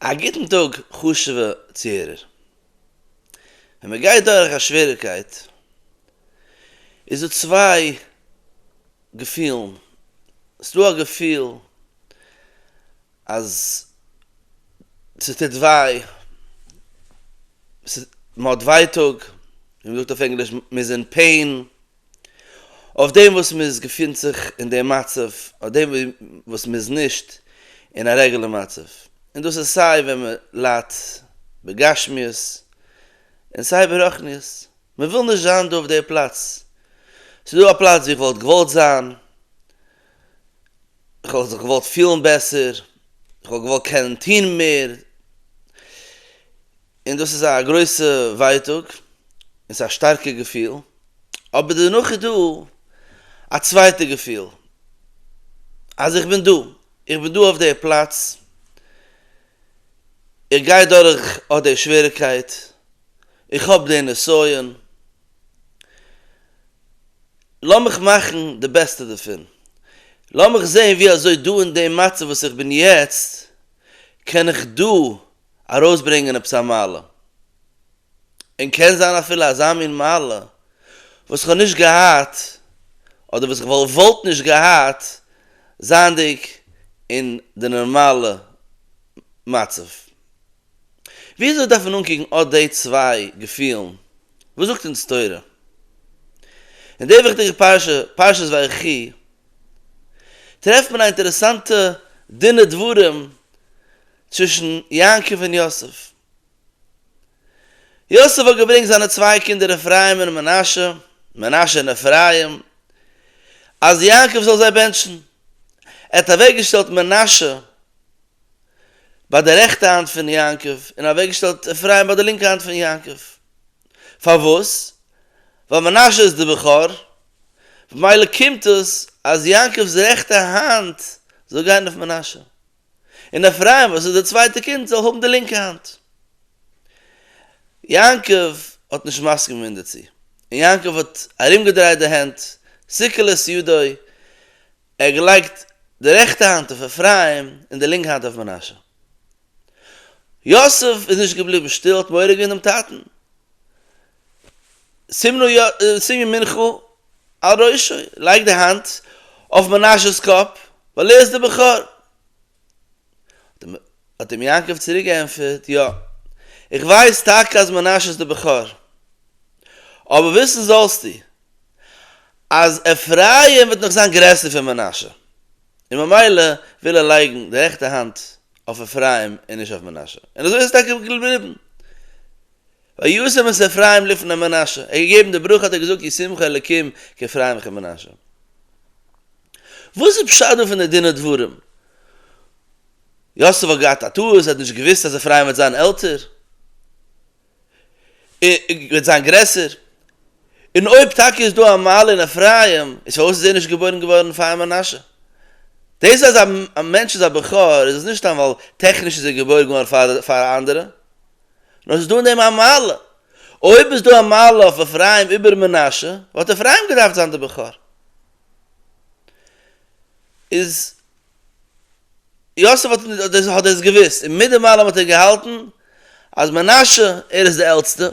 א גוטן טאג חשוב'ע צוהערער. ווען מען גייט דורך א שוועריגקייט איז דא צוויי געפילן, ס'דא א געפיל אז ס'טוט וויי, ס'איז, מ'האט ווייטאג, ווי מ'זאגט אויף ענגליש מ'איז אין פעין, אויף דעם וואס מען איז געפינט זיך אין דעם מצב, אויף דעם וואס מען איז נישט אין א רעגולער מצב, און דאס איז סיי ווען מען ליידט בגשמיות און סיי ברחניות, מען וויל נישט זיין דא אויף דער פלאץ, ס'איז דא א פלאץ ווי איך וואלט געוואלט זיין, איך האב זיך געוואלט פילן בעסער, איך האב געוואלט קענען טון מער, און דאס איז א גרויסע ווייטאג, און ס'איז א שטארקע געפיל, אבער דערנאך איז דא א צווייטע געפיל, אז איך בין דא, איך בין דא אויף די פלאץ, איך גיי דורך אט די שוועריקייט, איך האב די נסיון, לאמיך מאכן די בעסטע דערפון, לאמיך זען ווי אזוי דא אין דעם מצב וואס איך בין יעצט קען איך דא ארויסברענגען עפעס א מעלה, און קען זיין אפילו אזא מין מעלה וואס כ'האב נישט געהאט אדער וואס כ'וואלט וואלט נישט געהאט זייענדיג אין די נארמאלע מצב. וויאזוי דארף מען אנקוקן אט די צוויי געפילן? וואס זאגט אונז תורה אין די וויכטיגע פרשה, פרשת ויחי, טרעפט מען א אינטערעסאנטע דין ודברים צווישן יעקב און יוסף. יוסף האט געברענגט זיינע צוויי קינדער אפרים און מנשה, מנשה און אפרים, אז יעקב זאל זיי בענטשן. ער האט אוועקגעשטעלט מנשה ביי די רעכטע האנט פון יעקב און אוועקגעשטעלט אפרים ביי די לינקע האנט פון יעקב. פארוואס? ווייל מנשה איז די בכור, במילא קומט דאס אז יעקב'ס רעכטע האנט זאל גיין אויף מנשה, און אפרים וואס איז די צווייטע קינד זאל האבן די לינקע האנט. יעקב האט נישט מסכים געווען דערצו, און יעקב האט ארומגעדרייט די הענט, סיכל את ידו, ער האט געלייגט די רעכטע האנט אויף אפרים און די לינקע האנט אויף מנשה. יוסף איז נישט געבליבן שטיל, האט מורא געווען דעם טאטן. שימי מנחה על ראשו, לייג די האנט אויף מנשה'ס קאפ, ווייל ער איז דער בכור. האט אים יעקב צוריק געענטפערט, יא, איך ווייס טאקע אז מנשה איז דער בכור, אבער וויסן זאלסטו, אז אפרים וועט נאך זיין גרעסער פון מנשה, און ממילא וויל ער לייגן די רעכטע האנט אויף אפרים און נישט אויף מנשה, און אזוי איז עס טאקע געבליבן. וישם את אפרים לפני מנשה, ער האט געגעבן די ברכה האט ער געזאגט ישמחו אלקים כאפרים וכמנשה. וואס איז פשט דא פון די דין ודברים? יוסף האט געהאט א טעות, ער האט נישט געוואוסט אז אפרים וועט זיין עלטער, וועט זיין גרעסער, און אויב טאקע איז דא א מעלה אין אפרים, איז פארוואס איז ער נישט געבוירן געווארן פאר מנשה? דאס אז א מענטש איז א בכור איז עס נישט סתם ווייל טעכניש איז ער געבוירן געווארן פאר א אנדערע. נאר ס'איז דא אין דעם א מעלה, אויב איז דא א מעלה אויף אפרים איבער מנשה, וואלט אפרים געדארפט זיין די בכור. איז יוסף האט האט דאס געוואוסט, און מיט די מעלה האט ער געהאלטן אז מנשה ער איז די עלטסטע,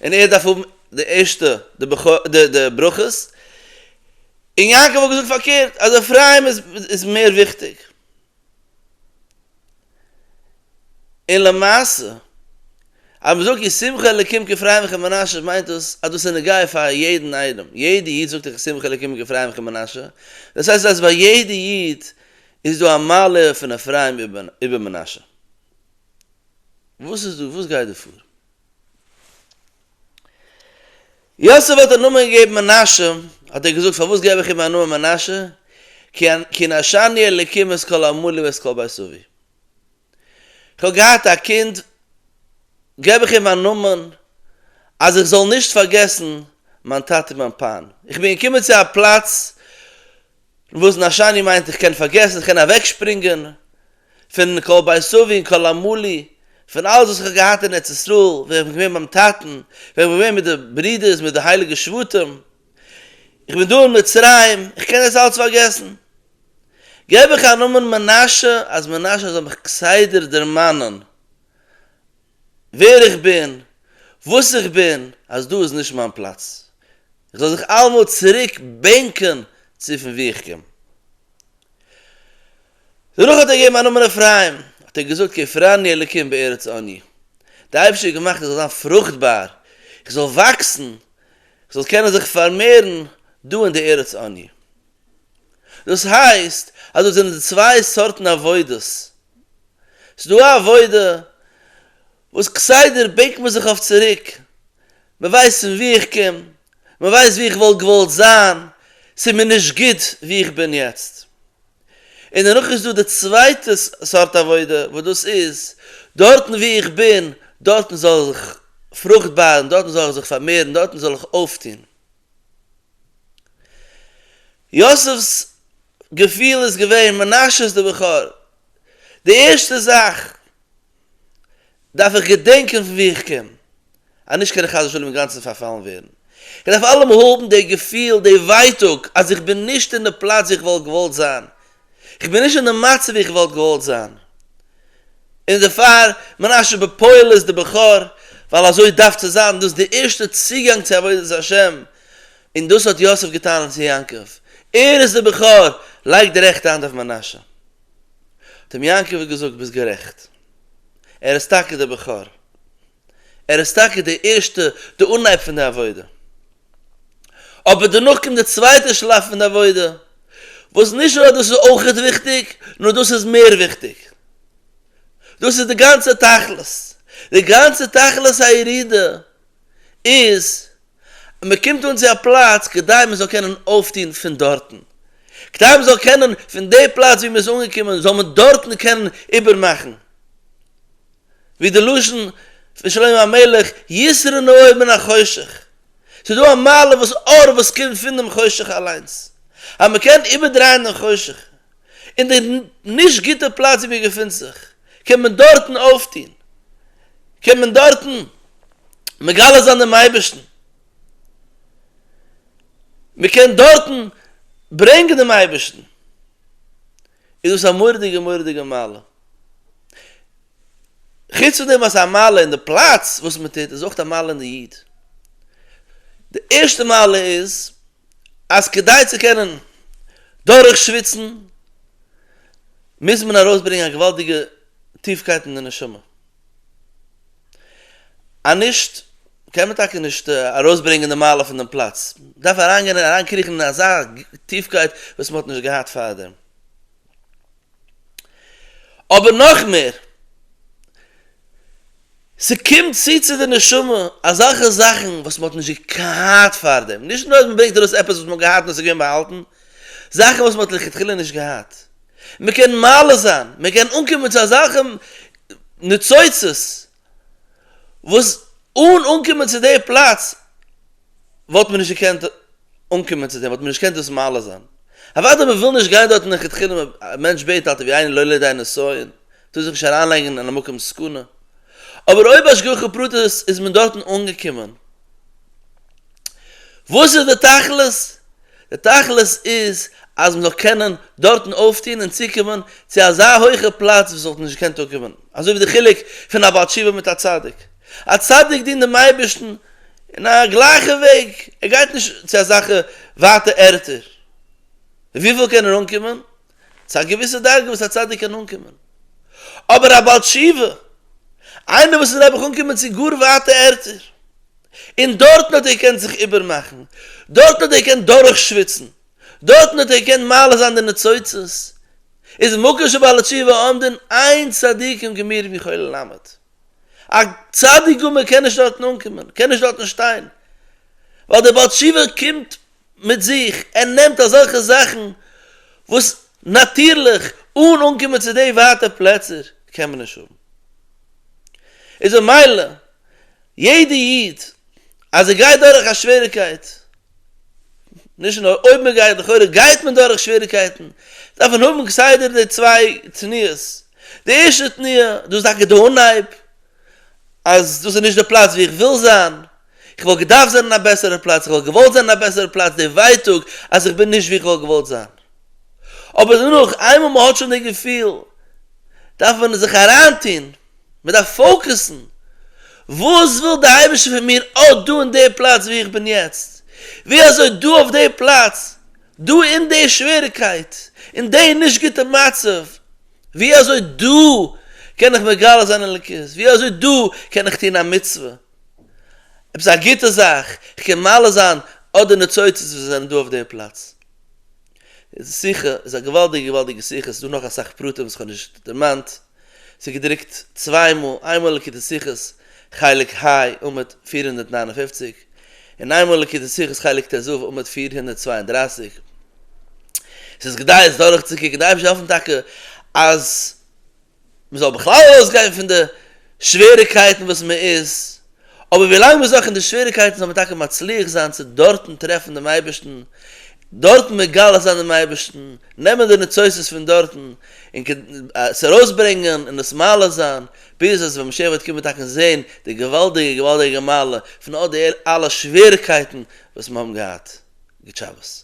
און ער דארף האבן די ערשטע די בכור די די ברכות, און יעקב האט געזאגט פארקערט אז אפרים איז מער וויכטיג. און למעשה, אז מען זאגט ישמחו אלקים כפרי עמך מנשה מיינט דאס אז דאס איז נוגע פאר יעדן איינעם, יעדע איד זאגט איך ישמחו אלקים כפרי עמך מנשה, דאס הייסט אז ביי יעדע איד איז דא א מעלה פון אפרים איבער מנשה. וואס איז דא? וואס גייט דא פאר? יוסף האט אים נאמען געגעבן מנשה, האט ער געזאגט, פארוואס געב איך אים א נאמען מנשה, כי נשאני אלקים את כל עמלי ואת כל בית אבי, איך האב געהאט א קינד, געב איך אים א נאמען אז איך זאל נישט פארגעסן מיין טאטע און מיין פאן, איך בין געקומען צו א פלאץ וואס נשני מיינט איך קען פארגעסן, איך קען אוועקשפרינגען, פון כל בית סבי און כל עמלי, פון אלעס וואס איך האב געהאט אין ארץ ישראל, ווען איך בין געווען ביים טאטן, ווען איך בין געווען מיט די ברודערס, מיט די הייליגע שבטים, איך בין דא אין מצרים, איך קען דאס אלעס פארגעסן. געב איך א נאמען מנשה, אז מנשה זאל מיך כסדר דערמאנען ווער איך בין, וואס איך בין, אז דא איז נישט מיין פלאץ, איך זאל זיך אלעמאל צוריק בענקען צו פון וואו איך קום. דערנאך האט ער געגעבן א נאמען אפרים, האט ער געזאגט כי הפרני אלקים בארץ אני, דער אייבערשטער האט געמאכט איך זאל זיין פרוכטבאר, איך זאל וואקסן, איך זאל קענען זיך פארמערן דא אין די ארץ אני. דאס הייסט אז דאס זענען די צוויי סארטן עבודות. ס'איז דא א עבודה וואס כסדר בענקט מען זיך אויף צוריק, מען ווייסט פון וואו איך קום, מען ווייסט וואו איך וואלט געוואלט זיין, ס'איז מיר נישט גוט וואו איך בין יעצט. און דערנאך איז דא די צווייטע סארט עבודה וואס דאס איז, דארטן וואו איך בין, דארטן זאל איך פרוכט בארן, דארטן זאל איך זיך פארמערן, דארטן זאל איך אויפטון. יוסף'ס געפיל איז געווען, מנשה איז די בכור, די ערשטע זאך דארף איך געדענקען פון וואו איך קום, אנישט קען איך חס ושלום אינגאנצן פארפאלן ווערן, איך דארף אלעמאל האבן די געפיל, די ווייטאג אז איך בין נישט אין די פלאץ וואו איך וואלט געוואלט זיין, כ'בין נישט אין די מצב ווי כ'וואלט געוואלט זיין, און דערפאר מנשה בן פויעל איז די בכור, ווייל אזוי דארף צו זיין, דאס איז די ערשטע צוגאנג צו עבודת השם, און דאס האט יוסף געטאן צו יעקב, ער איז די בכור, לייג די רעכטע האנט אויף מנשה. האט אים יעקב געזאגט, ביסט גערעכט, ער איז טאקע די בכור, ער איז טאקע די ערשטע, די אנהייב פון די עבודה. אבער דערנאך קומט די צווייטע שלב פון די עבודה, וואס נישט נאר אז דאס איז אויכעט וויכטיג, נאר דאס איז מער וויכטיג. דאס איז די גאנצע תכלית. די גאנצע תכלית הירידה איז אז מען קומט אן צו א פלאץ כדי מען זאל קענען אויפטון פון דארטן. כדי מען זאל קענען פון די פלאץ וואו מען איז אנגעקומען זאל מען דארטן קענען איבערמאכן. ווי די לשון פון שלמה המלך יסרן אור מן החושך, ס'איז דא א מעלה וואס אור וואס קומט פונעם חושך אליינס, אז מען קען איבערדרייען דעם חושך, און די נישט גוטע פלאץ ווי מען געפינט זיך, קען מען דארטן אויפטון, קען מען דארטן מגלה זיין דעם אייבערשטן, מען קען דארטן ברענגען דעם אייבערשטן, איז דאס א מורא'דיגע מורא'דיגע מעלה. חוץ פון דעם אז ס'איז א מעלה אין די פלאץ וואס מען טוט, איז אויך א מעלה אין די איד. די ערשטע מעלה איז אז כדי צו קענען דורך שוויצן מוז מען ארויס ברענגען א געוואלדיגע טיפקייט אין די נשמה. אז נישט קען מען טאקע נישט ארויס ברענגען די מעלה פון דעם פלאץ. מען דארף אריינגיין און אריין קריכן אין אזא טיפקייט וואס מען האט נישט געהאט פארדעם. אבער נאך מער, ס'קומט צו צו די נשמה אזעלכע זאכן וואס מ'האט נישט געהאט פארדעם, נישט נאר אז מ'ברענגט ארויס עפעס וואס מ'האט געהאט און עס איז געווען באהאלטן, זאכן וואס מ'האט לכתחילה נישט געהאט. מ'קען מעלה זיין, מ'קען אנקומען צו אזעלכע ניצוצות, וואס אן אנקומען צו די פלאץ וואלט מען נישט געקענט אנקומען צו דעם, וואלט מען נישט געקענט דאס מעלה זיין. אוודאי מען וויל נישט גיין דארטן לכתחילה, א מענטש בעט אלטע ווי איינער לא לידי נסיון, טאר זיך נישט אריינלייגן אין א מקום סכנה, אבער אויב השגחה פרטית איז מען דארטן אנגעקומען, וואס איז די תכלית? די תכלית איז אז מ'זאל קענען דארטן אויפטון און צוקומען צו אזא הויכע פלאץ וואס מ'וואלט נישט געקענט אנקומען, אזוי ווי די חילוק פון א בעל תשובה מיט א צדיק. א צדיק דינט דעם אייבערשטן אין א גלייכע וועג, ער גייט נישט צו אזעלכע ווייטע ערטער. וויפיל קען ער אנקומען? צו א געוויסע דרגה וואס א צדיק קען אנקומען, אבער א בעל תשובה, איינער וואס איז נעבעך אנקומען צו גאר ווייטע ערטער, און דארטן האט ער געקענט זיך איבערמאכן, דארטן האט ער געקענט דורכשוויצן, דארטן האט ער געקענט מעלה זיין די ניצוצות, איז מקום שבעל התשובה עומדין אין צדיקים גמורים יכולים לעמוד, א צדיק גמור קען נישט דארטן אנקומען, קען נישט דארטן שטיין, ווייל דער בעל תשובה קומט מיט זיך, ער נעמט אזעלכע זאכן וואס נאטירליך אן אנקומען צו די ווייטע פלעצער קען מען נישט האבן, איז במילא יעדע איד אז ער גייט דורך א שוועריקייט, נישט נאר אויב מען גייט, לכאורה גייט מען דורך שוועריקייטן, דארף מען האבן כסדר די צוויי תנועות, די ערשטע תנועה, דאס איז טאקע די אנהייב, אז דאס איז נישט די פלאץ וואו איך וויל זיין, איך וואלט געדארפט זיין אין א בעסערע פלאץ, איך וואלט געוואלט זיין אין א בעסערע פלאץ, די ווייטאג אז איך בין נישט וואו איך וואלט געוואלט זיין. אבער דערנאך, איינמאל מען האט שוין די געפיל, דארף מען זיך אריינטון, מען דארף פאוקעסן, וואס וויל די אייבערשטער פון מיר אט דא אין די פלאץ וואו איך בין יעצט, ווי אזוי דא אויף די פלאץ, דא אין די שוועריקייט, אין די נישט גוטע מצב, ווי אזוי דא קען איך מגלה זיין אלוקות? ווי אזוי דא קען איך טון א מצוה, עפעס א גוטע זאך, איך קען מעלה זיין אט די ניצוצות וואס זענען דא אויף דער פלאץ? די שיחה איז א געוואלדיגע געוואלדיגע שיחה, ס'איז דא נאך אסאך פרטים וואס כ'האב נישט דערמאנט, ס'איז געדרוקט צוויי מאל, איינמאל אין לקוטי שיחות חלק ה, עמוד פֿיר הונדערט נײַן און פֿופֿציק, אין איינמאל ליקוטי שיחות חלק טז עמוד פֿיר הונדערט צוויי און דרײַסיק, עס איז כדאי עס דורכצוקוקן, דארף נישט העלפן טאקע אז מען זאל בכלל ארויסגיין פון די שוועריקייטן וואס מען איז, אבער ווי לאנג מען איז נאך אין די שוועריקייטן זאל מען טאקע מצליח זיין צו דארטן טרעפן דעם אייבערשטן, דארטן מגלה זיין דעם אייבערשטן, נעמען די ניצוצות פון דארטן און עס ארויסברענגען און עס מעלה זיין, ביז אז ווען משיח וועט קומען טאקע און זען די געוואלדיגע געוואלדיגע מעלה פון אט די אלע שוועריקייטן וואס מיר האבן געהאט גוט שבת.